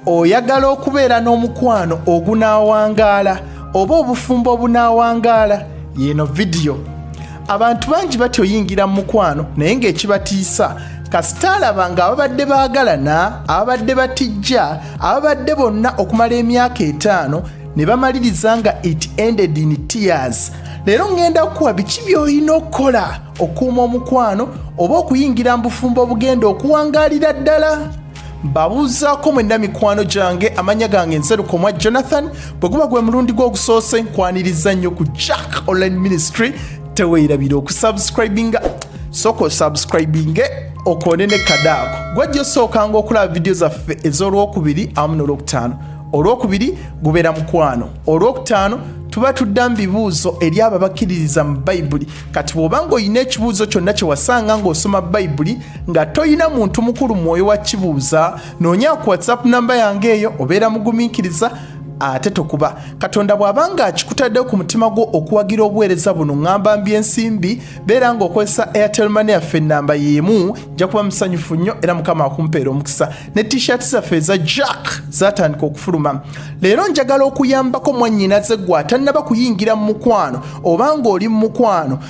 oyagala okubeera n'omukwano ogunaawangaala oba obufumbo obunaawangaala yeeno vidiyo abantu bangi batya oyingira mu mukwano naye ng'ekibatiisa kasita alaba nga ababadde baagalana ababadde batijja ababadde bonna okumala emyaka etaano ne bamaliriza nga it ended in tears leero ŋŋenda kukuwa biki by'olina okukola okuuma omukwano oba okuyingira mu bufumbo obugenda okuwangaalira ddala mbabuuzaako mwenna mikwano gyange amanya gange nserukomwa jonathan bwe guba gwe mulundi gw'ogusoose nkwaniriza nnyo ku jack online ministry teweerabira okusubscribinga sooka osubscribinge okoone ne kadaako gwajja osookanga okulaba vidiyo zaffe ez'olwokubiri awamu n'olwokutaano olwokubiri gubeera mukwano olwokutaano tuba tudda mu bibuuzo eri abo abakkiririza mu bayibuli kati bw'oba ng'olina ekibuuzo kyonna kye wasanga ng'osoma bayibuli nga toyina muntu mukulu mwoyo wa kibuuza noonya ku whatsapp namba yange eyo obeera mugumiikiriza ate tokuba katonda bw'abanga akikutaddewo ku mutima gwo okuwagira obuweereza buno ŋŋamba mbi ensimbi beera ng'okozesa airtel mane yaffe ennamba y'emu nja kuba musanyufu nnyo era mukama akumpeera omukisa ne t-shirt zaffe eza jack zatandika okufuluma leero njagala okuyambako mwannyinaze gwe atannaba kuyingira mu mukwano oba ng'oli mu mukwano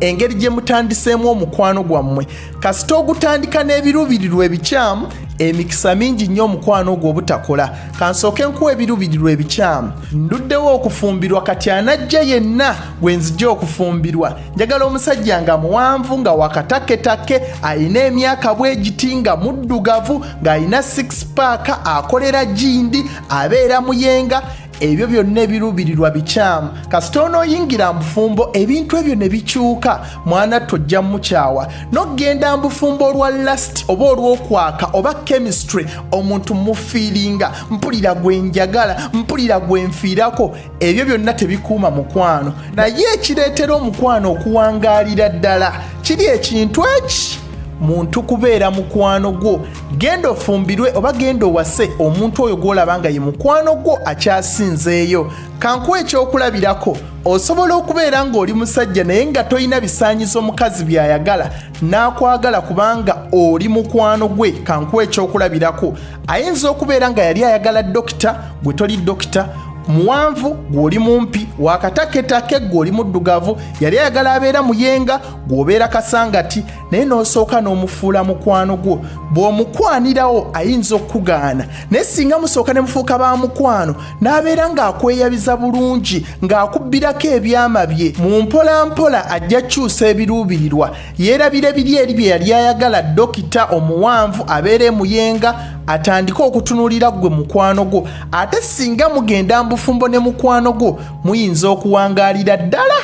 engeri gye mutandiseemu omukwano gwammwe kasita ogutandika n'ebiruubirirwa ebikyamu emikisa mingi nnyo omukwano ogwo obutakola kansooke nkuwa ebiruubirirwa ebikyamu nduddewo okufumbirwa kati anajja yenna gwe nzija okufumbirwa njagala omusajja nga muwanvu nga wakataketake alina emyaka bwegiti nga muddugavu ng'alina six paaka akolera gindi abeera muyenga ebyo byonna ebiruubirirwa bikyamu kasita onooyingira mbufumbo ebintu ebyo ne bikyuka mwana tojja mukyawa nokugenda mbufumbo olwa last oba olwokwaka oba chemistry omuntu mufiiringa mpulira gwenjagala mpulira gwenfiirako ebyo byonna tebikuuma mukwano naye ekireetera omukwano okuwangaalira ddala kiri ekintu eki muntu kubeera mukwano gwo genda ofumbirwe oba genda owase omuntu oyo gw'olaba nga ye mukwano gwo akyasinzeeyo kankuwa ekyokulabirako osobola okubeera ng'oli musajja naye nga tolina bisaanyizo mukazi by'ayagala n'akwagala kubanga oli mukwano gwe kankuwa ekyokulabirako ayinza okubeera nga yali ayagala dokita gwe toli dokita muwanvu gw'oli mumpi wakataketake gw'oli muddugavu yali ayagala abeera muyenga gw'obeera kasangati naye n'osooka n'omufuula mukwano gwo bw'omukwanirawo ayinza okukugaana naye singa musooka ne mufuuka ba mukwano n'abeera ng'akweyabiza bulungi ng'akubbirako ebyama bye mu mpola mpola ajja kukyusa ebiruubirirwa yeerabira ebiri eri bye yali ayagala dokita omuwanvu abeera emuyenga atandike okutunuulira ggwe mukwano gwo ate singa mugenda mbufumbo ne mukwano gwo muyinza okuwangaalira ddala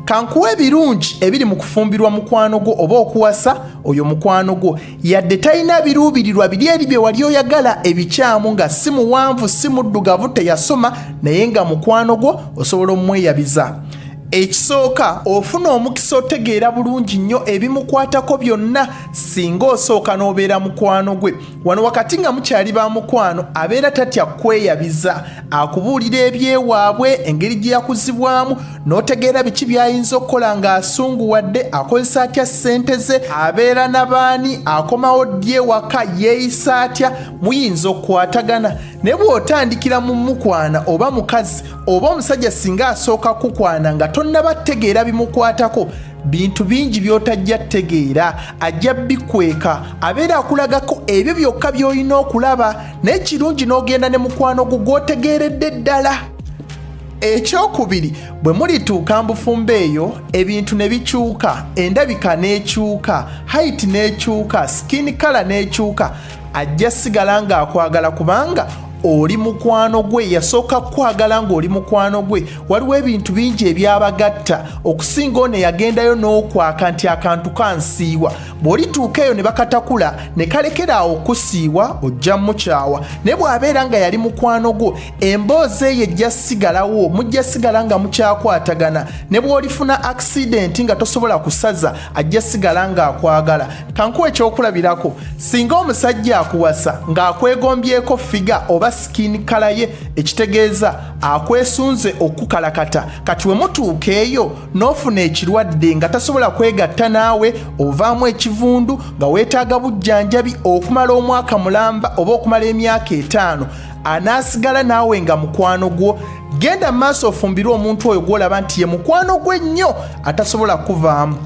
kankuwa ebirungi ebiri mu kufumbirwa mukwano gwo oba okuwasa oyo mukwano gwo yadde talina biruubirirwa biri eri bye wali oyagala ebikyamu nga si muwanvu si muddugavu teyasoma naye nga mukwano gwo osobola omumweyabiza ekisooka ofuna omukisa otegeera bulungi nnyo ebimukwatako byonna singa osooka n'obeera mukwano gwe wano wakati nga mukyali ba mukwano abeera tatya kukweyabiza akubuulira ebyewaabwe engeri gye yakuzibwamu n'otegeera biki by'ayinza okukola ng'asunguwadde akozesa atya ssente ze abeera na baani akomawo ddi ewaka yeeyisa atya muyinza okukwatagana ne bw'otandikira mu mukwana oba mukazi oba omusajja singa asooka kukwana nga tonnaba tegeera bimukwatako bintu bingi by'otajja tegeera ajja bikweka abeera akulagako ebyo byokka by'olina okulaba naye kirungi n'ogenda ne mukwano gwo gw'otegeeredde ddala ekyokubiri bwe mulituuka mbufumbo eyo ebintu ne bikyuka endabika n'ekyuka haiti n'ekyuka sikini kala n'ekyuka ajja sigala ng'akwagala kubanga oli mukwano gwe yasooka kukwagala ng'oli mukwano gwe waliwo ebintu bingi ebyabagatta okusinga ono eyagendayo n'okwaka nti akantu kansiiwa bw'olituuka eyo ne bakatakula ne kalekeraawo okusiiwa ojja mukyawa naye bw'abeera nga yali mukwano gwo emboozi eyo ejja sigalawo mujja sigala nga mukyakwatagana ne bw'olifuna akisidenti nga tosobola kusaza ajja sigala ng'akwagala kankuwa ekyokulabirako singa omusajja akuwasa ng'akwegombyeko figa oba sikini kala ye ekitegeeza akwesunze okukukalakata kati we mutuuka eyo n'ofuna ekirwadde nga tasobola kwegatta naawe ovaamu ekivundu nga weetaaga bujjanjabi okumala omwaka mulamba oba okumala emyaka etaano anaasigala naawe nga mukwano gwo genda mu maaso ofumbirwe omuntu oyo gwolaba nti ye mukwano gwe nnyo atasobola kuvaamu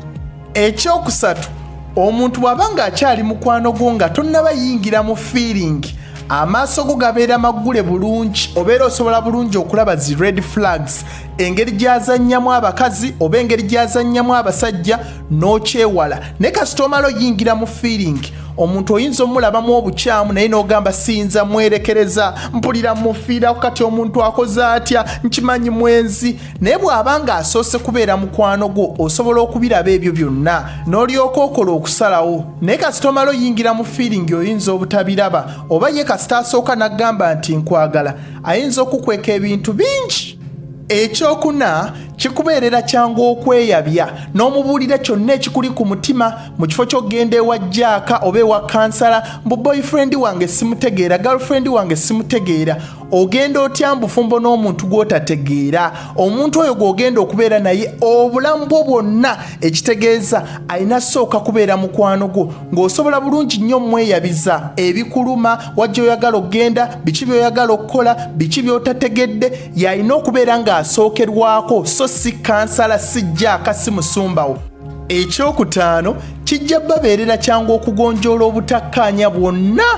ekyokusatu omuntu bw'aba nga akyali mukwano gwo nga tonnaba yingira mu fiiringi amaaso go gabeera maggule bulungi obeera osobola bulungi okulaba zi red flags engeri gyazannyamu abakazi oba engeri gyazannyamu abasajja n'okyewala naye kasita omala oyingira mu fiiringi omuntu oyinza omulabamu obukyamu naye n'ogamba siyinza mwerekereza mpulira mufiiraku kati omuntu akoze atya nkimanyi mwenzi naye bw'aba nga asoose kubeera mukwano gwo osobola okubiraba ebyo byonna n'olyoka okola okusalawo naye kasita omala oyingira mu fiiringi oyinza obutabiraba oba ye kasita asooka n'agamba nti nkwagala ayinza okukweka ebintu bingi ekyokuna kikubeerera kyangu okweyabya n'omubuulira kyonna ekikuli ku mutima mu kifo ky'okugenda ewa jaaka oba ewa kansala mbu boyfriend wange simutegeera girlfriend wange simutegeera ogenda otya mbufumbo n'omuntu gw'otategeera omuntu oyo gw'ogenda okubeera naye obulamu bwo bwonna ekitegeeza alina sooka kubeera mukwano gwo ng'osobola bulungi nnyo omweyabiza ebikuluma wajja oyagala okugenda biki by'oyagala okukola biki by'otategedde yalina okubeera ng'asookerwako so si kansala si jaaka si musumbawo ekyokutaano kijja babeerera kyangu okugonjoola obutakkaanya bwonna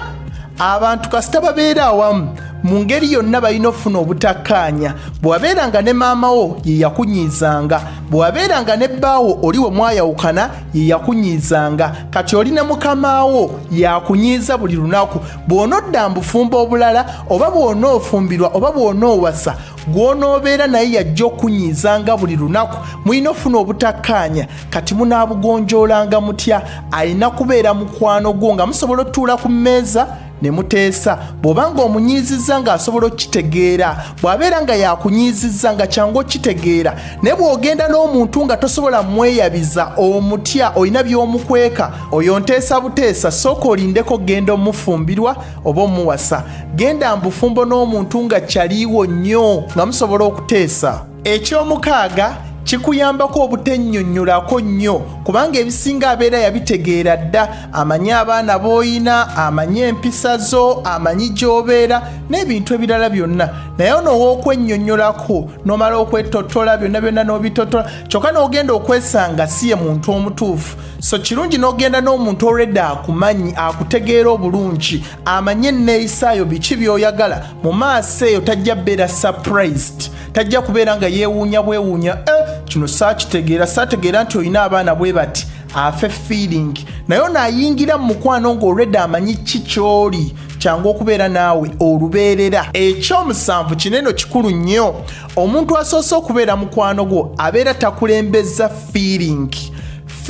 abantu kasita babeera awamu mu ngeri yonna balina okufuna obutakkaanya bwewabeera nga ne maama wo ye yakunyiizanga bwewabeera nga ne bbaawo oli we mwayawukana ye yakunyiizanga kati oli ne mukamaawo yakunyiiza buli lunaku bw'onodda mbufumba obulala oba bw'onoofumbirwa oba bw'onoowasa gw'onoobeera naye yajja okunyiizanga buli lunaku mulina ofuna obutakkaanya kati munaabugonjoolanga mutya alina kubeera mukwano gwo nga musobola otuula ku mmeeza ne muteesa bw'oba nga omunyiizizza ng'asobola okukitegeera bw'abeera nga yakunyiizizza nga kyangu okukitegeera naye bw'ogenda n'omuntu nga tosobola mweyabiza omutya olina by'omukweka oyo nteesa buteesa sooka olindeko genda omufumbirwa oba omuwasa genda mbufumbo n'omuntu nga kyaliiwo nnyo nga musobola okuteesa eky'omukaaga kikuyambako obutennyonnyolako nnyo kubanga ebisinga abeera yabitegeera dda amanyi abaana b'oyina amanyi empisa zo amanyi gy'obeera n'ebintu ebirala byonna naye ono ow'okwennyonnyolako n'omala okwetottola byonna byonna n'obitottola kyokka n'ogenda okwesanga si ye muntu omutuufu so kirungi n'ogenda n'omuntu already akumanyi akutegeera obulungi amanye enneeyisaayo biki by'oyagala mu maaso eyo tajja beera surprised tajja kubeera nga yeewuunya bwewuunya eh, kino saakitegeera saategeera nti olina abaana bwe bati afe feeling naye onaayingira mu mukwano ng'olwedde amanyi ki ky'oli kyangu okubeera naawe olubeerera ekyomusanvu kineno kikulu nnyo omuntu asoose okubeera mukwano gwo abeera takulembeza feeling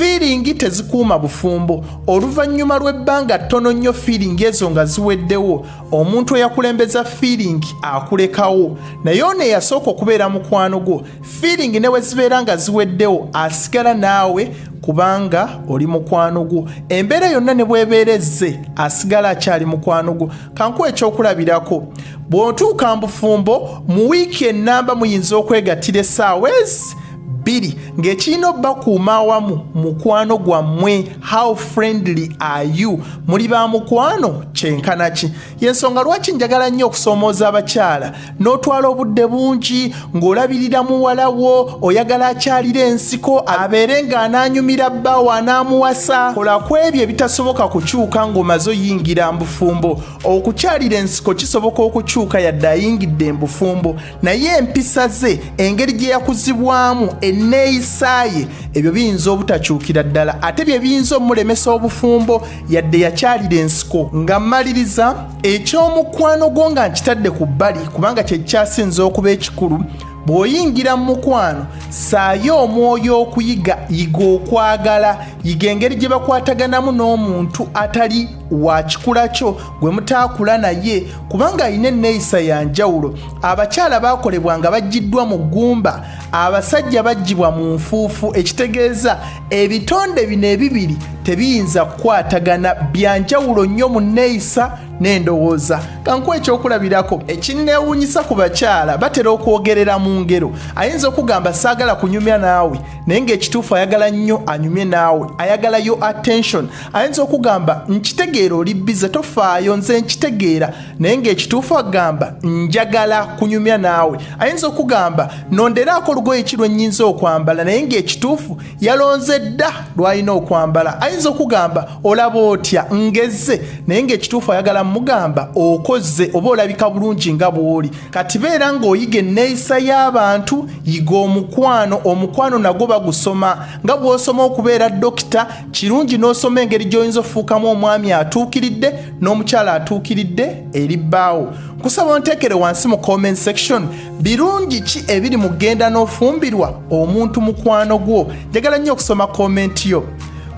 fiiringi tezikuuma bufumbo oluvannyuma lw'ebbanga ttono nnyo fiiringi ezo nga ziweddewo omuntu eyakulembeza fiiringi akulekawo naye ono eyasooka okubeera mukwano gwo fiiringi ne bwe zibeera nga ziweddewo asigala naawe kubanga oli mukwano gwo embeera yonna ne bwebeera ezze asigala akyali mukwano gwo kankuwa ekyokulabirako bw'otuuka mu bufumbo mu wiiki ennamba muyinza okwegattira essaawa ezi bbiri ng'ekirina obakuuma awamu mukwano gwammwe how friendly are you muli ba mukwano kyenkanaki y'ensonga lwaki njagala nnyo okusoomooza abakyala n'otwala obudde bungi ng'olabirira muwala wo oyagala akyalira ensiko abeere ng'anaanyumira bbaawo anaamuwasa kola ku ebyo ebitasoboka kukyuka ng'omaze oyingira mbufumbo okukyalira ensiko kisoboka okukyuka yadde ayingidde embufumbo naye empisa ze engeri gye yakuzibwamu enneeyisa ye ebyo biyinza obutakyukira ddala ate bye biyinza omulemesa obufumbo yadde yakyalira ensiko nga mmaliriza ekyomukwano gwo nga nkitadde ku bbali kubanga kyekyasinza okuba ekikulu bw'oyingira mu mukwano saayo omwoyo okuyiga yiga okwagala yiga engeri gye bakwataganamu n'omuntu atali wa kikula kyo gwe mutaakula naye kubanga alina enneeyisa ya njawulo abakyala baakolebwa nga bajjiddwa mu ggumba abasajja baggibwa mu nfuufu ekitegeeza ebitonde bino ebibiri tebiyinza kukwatagana bya njawulo nnyo mu nneeyisa n'endowooza kankuwa ekyokulabirako ekinneewuunyisa ku bakyala batera okwogerera mu ngero ayinza okugamba saagala kunyumya naawe naye ng'ekituufu ayagala nnyo anyumye naawe ayagala yo attention ayinza okugamba nkitegeera oli bize tofaayo nze nkitegeera naye ng'ekituufu agamba njagala kunyumya naawe ayinza okugamba nonderaako olugoye ki lwennyinza okwambala naye ng'ekituufu yalonze dda lw'alina okwambala ayinza okugamba olaba otya ngezze naye ng'ekituufu ayagala mugamba okoze oba olabika bulungi nga bw'oli kati beera ng'oyiga enneeyisa y'abantu yiga omukwano omukwano nagwo bagusoma nga bw'osoma okubeera dokita kirungi n'osoma engeri gy'oyinza okufuukamu omwami atuukiridde n'omukyala atuukiridde eri bbaawo nkusaba onteekere wansi mu comment section birungi ki ebiri mu genda n'ofumbirwa omuntu mukwano gwo njagala nnyo okusoma komenti yo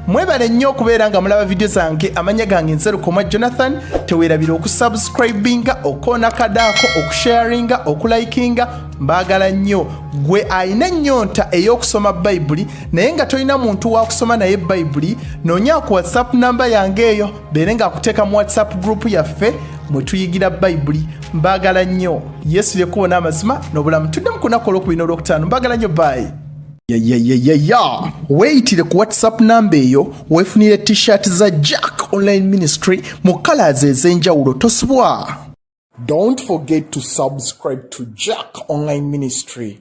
mwebale nnyo okubeera nga mulaba vidiyo zange amanya gange nzerukomwa jonathan teweerabira okusubscribinga okoona kadaako okusharinga okulikinga mbaagala nnyo gwe alina ennyonta ey'okusoma bayibuli naye nga tolina muntu wakusoma naye bayibuli noonya ku whatsapp namba yange eyo beere ng'akuteeka mu whatsapp gurupu yaffe mwe tuyigira bayibuli mbaagala nnyo yesu lyekkubo n'amazima n'obulamu tuddemu ku lunaku olwokubina olwokutaano mbaagala nnyo baayi yayayayaya weeyitire ku whatsapp namba eyo weefunire t-shirt za jack online ministry mu kalaazi ez'enjawulo tosubwa don't forget to subscribe to jack online ministry